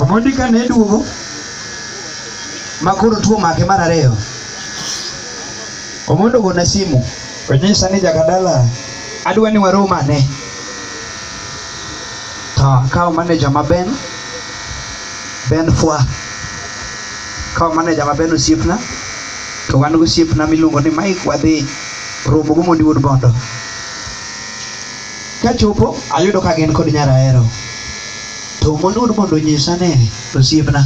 Omondi ka ne duogo ma koro tuo make mar ariyo, Omondo ogona simu onyisa ni Jakadala adwa ni warom ane. To akawo maneja ma Ben, Ben Fwa, akawo maneja ma Ben osiepna to wan gosiepna miluongo ni Mike wadhi romo gi Omondi wuod Bondo. Kachopo ayudo ka gin kod nyar ahero to mondud mondo onyisa ne to siepna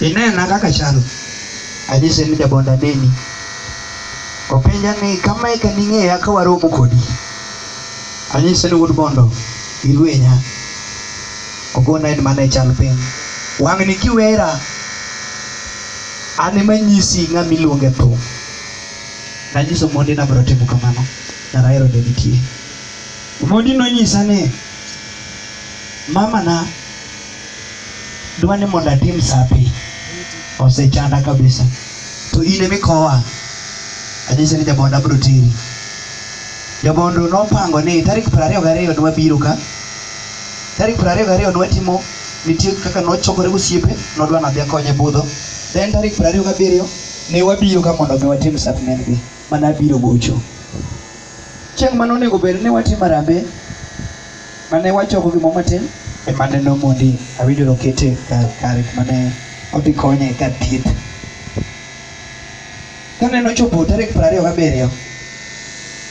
inena kaka chalo anyise ni jabonda neni openja ni kama eka ning'eya ka waromo kodi anyise ni wuod bondo ilwenya ogona en mana e chal piny wang'ni kiwera an ema nyisi ng'ama iluonge thum nanyiso mondi nabiro timo kamano Kara ahero ne nitie. Omondi nonyisa ni mamana dwa ni mondo atim sapi osechanda kabisa to in ema ikowa anyise ni jabondo abiro teri jabondo nopango ni tarik piero ariyo gariyo ne wabiro ka tarik piero ariyo gariyo ne watimo nitie kaka nochokore gosiepe nodwa nadhi akonye budho then tarik piero ariyo gabiriyo ne wabiro ka mondo mi watim sapnengi mane abiro gocho. Chieng' mane onego bed ni watimo arambe, mane wachoko gimoro matin, ema ne nomondi awinjo nokete kar kare mane odhi konye kar thieth. Kane nochopo tarik piero ariyo gabiriyo